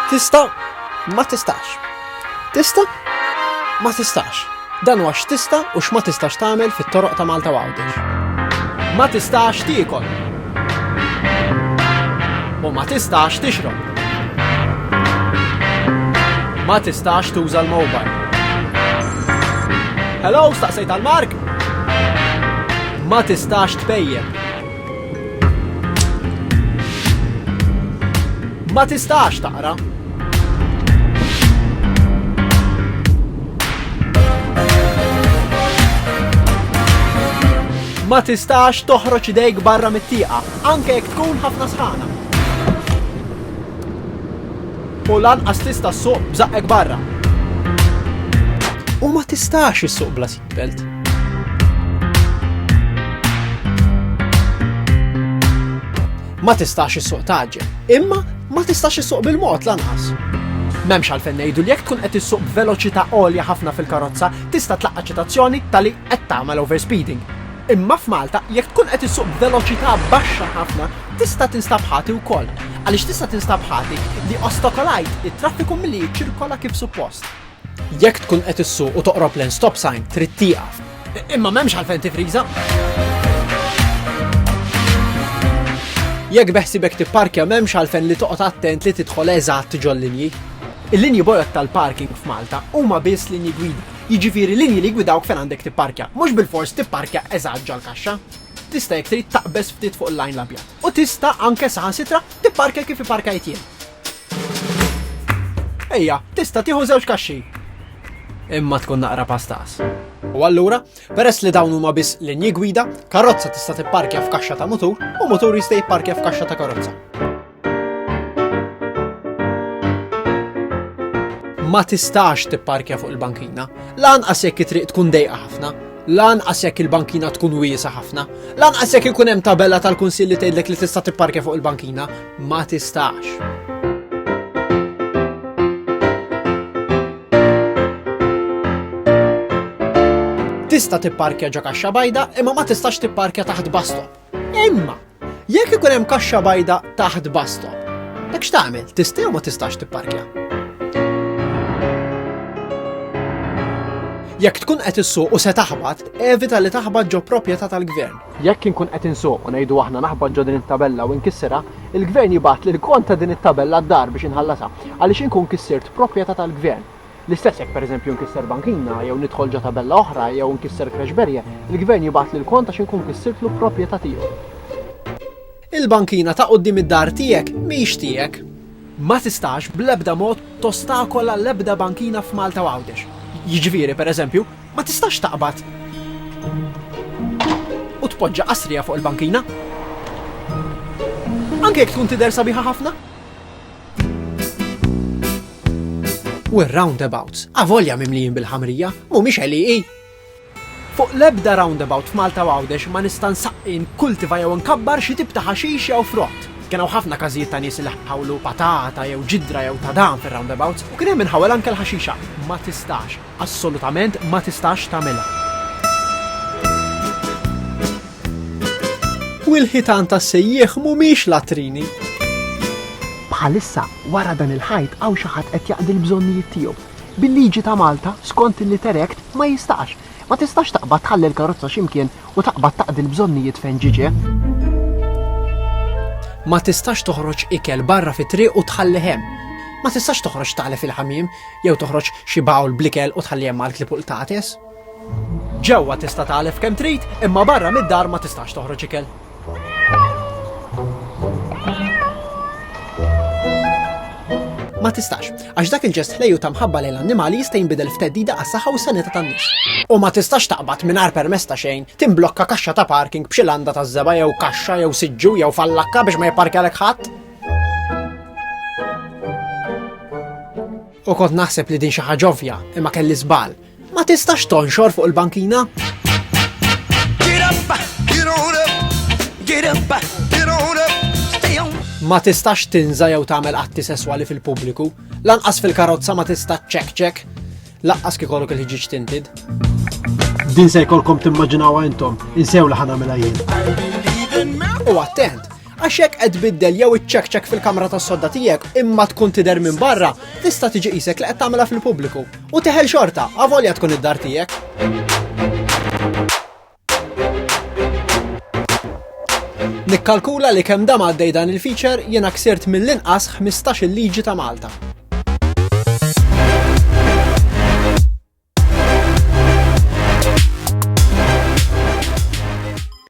Tista' ma tistax. Tista' ma tistax. Dan huwa x'tista' u x'ma tistax tagħmel fit-toroq ta' Malta Għawdex. Ma tistax tiekol. U ma tistax tixrob. Ma tistax tuża l-mobile. Hello, staqsejt għal Mark? Ma tistax tpejjeb. Ma tistax taqra. Ma tistax toħroġ idejk barra mit-tieqa, anke jekk tkun ħafna sħana. U lanqas tista' suq bżaqqek barra. U ma tistax issuq bla Belt. Ma tistax is-suq taġġel, imma ma tistax is-suq bil-mod lanqas. Memx għalfen ngħidu li jekk tkun qed issuq b'veloċità għolja ħafna fil-karozza tista' tlaqqa' ċitazzjoni tali qed tagħmel overspeeding. Imma f'Malta jekk tkun qed issuq b'veloċità baxxa ħafna tista' tinstab ħati wkoll. Għaliex tista' tinstab ħati li ostokolajt it-traffiku milli jiċċirkola kif suppost. Jekk tkun qed issuq u toqrob lejn stop sign trid tieqaf. Imma m'hemmx għalfejn tifriża. Jekk beħsibek tipparkja m'hemmx għalfejn li toqgħod attent li tidħol eżatt ġol-linji. Il-linji bojod tal-parking f'Malta huma biss linji gwida, jiġifieri linji li gwidawk fejn għandek tipparkja, mhux bil-fors tipparkja eżatt ġol-kaxxa. Tista' jekk trid taqbeż ftit fuq il-lajn l-abjad. U tista' anke saħansitra tipparkja kif iparkajt jien. Ejja, tista' tieħu żewġ kaxxi. Imma tkun naqra pastas. U allura, peress li dawn huma biss linji gwida, karozza tista' tipparkja f'kaxxa ta' mutur u mutur jista' jipparkja f'kaxxa ta' karozza. Ma tistax tipparkja fuq il-bankina, lanqas jekk it-triq tkun dejqa ħafna, lanqas jekk il-bankina tkun wiesa ħafna, lanqas jekk ikun hemm tabella tal-kunsill li tgħidlek li tista' tipparkja fuq il-bankina, ma tistax. Tista' tipparkja ġo kaxxa bajda imma ma tistax tipparkja taħt bastom. Imma, jekk ikun hemm kaxxa bajda taħt bastom, dak x'tagħmel? Tista' jew ma tistax tipparkja? Jekk tkun qed issuq u se taħbat, evita li taħbat ġo proprjetà tal-gvern. Jekk inkun qed insuq u ngħidu aħna naħbat ġo din it-tabella u inkisserha, il-Gvern jibgħatli l-kont ta' din it-tabella d-dar biex inħallasha għaliex inkun kissirt proprjetà tal-Gvern. L-istess jekk pereżempju nkisser bankina jew nidħol ġo tabella oħra jew nkisser creche barrier, il-Gvern jibgħatli l-kont għax inkun kissirtlu proprjetà tiegħu. Il-bankina ta' quddiem id-dar tiegħek mhix tiegħek. Ma tistax bl-ebda mod tostakola l-ebda bankina f'Malta u Għawdex. Jiġifieri, per eżempju, ma tistax taqbad u tpoġġa qasrija fuq il-bankina. Anke jekk tkun tidher sabiħa ħafna. U r-roundabouts, avolja mimlijin bil-ħamrija, mhumiex għeliqi. Fuq l-ebda roundabout f'Malta u Għawdex ma nista' nsaqqi, nkkultiva jew nkabbar xi tip ta' ħaxix jew frott. Kien hawn ħafna każijiet ta' nies li ħawlu patata jew ġidra jew tadam fir-roundabouts u kien hemm min ħawel anke l-ħaxixa. Ma tistax, assolutament ma tistax tagħmilha. U l-ħitan tas-sejjieħ mhumiex latrini. Bħalissa, wara dan il-ħajt hawn xi ħadd qed jaqdi l-bżonnijiet tiegħu. Bil-liġi ta' Malta, skont il-Litter Act, ma jistax. Ma tistax taqbad tħalli l-karozza xi mkien u taqbad taqdi l-bżonnijiet fejn ġġiġ. Ma tistax toħroġ ikel barra fit-triq u tħallih hemm. Ma tistax toħroġ tagħlef il-ħamiem jew toħroġ xi bawl bl-ikel u tħalli hemm għal klieb u qtates. Ġewwa tista' tagħlef kemm trid, imma barra mid-dar ma tistax toħroġ ikel. ma tistax, għax dak il-ġest ħlejju ta' mħabba lejn l-annimali jista' jinbidel f'teddida għas-saħħa u s-sanità tan-nies. U ma tistax taqbad mingħajr permess ta' xejn, timblokka kaxxa ta' parking b'xi landa ta' żeba jew kaxxa jew siġġu jew fallakka biex ma jipparkjalek ħadd. U kont naħseb li din xi ħaġa ovvja, imma kelli żball. Ma tistax tonxor fuq il-bankina? Ma tistax tinża jew tagħmel atti sesswali fil-pubbliku, lanqas fil-karozza ma tista' ċek-ċek, lanqas kikollok il-ħġiġ tintid. Din se jkollkom timmaġinawha intom, insew li ħana mela jien. U attent, Għax jekk qed tbiddel jew iċċekċek fil-kamra tas-sodda tiegħek imma tkun tidher minn barra, tista' tiġi qisek li qed tagħmilha fil-pubbliku u teħel xorta avolja tkun id-dar tiegħek. Nikkalkula li kemm dam għaddej dan il-feature jiena ksirt mill-inqas 15 il-liġi ta' Malta.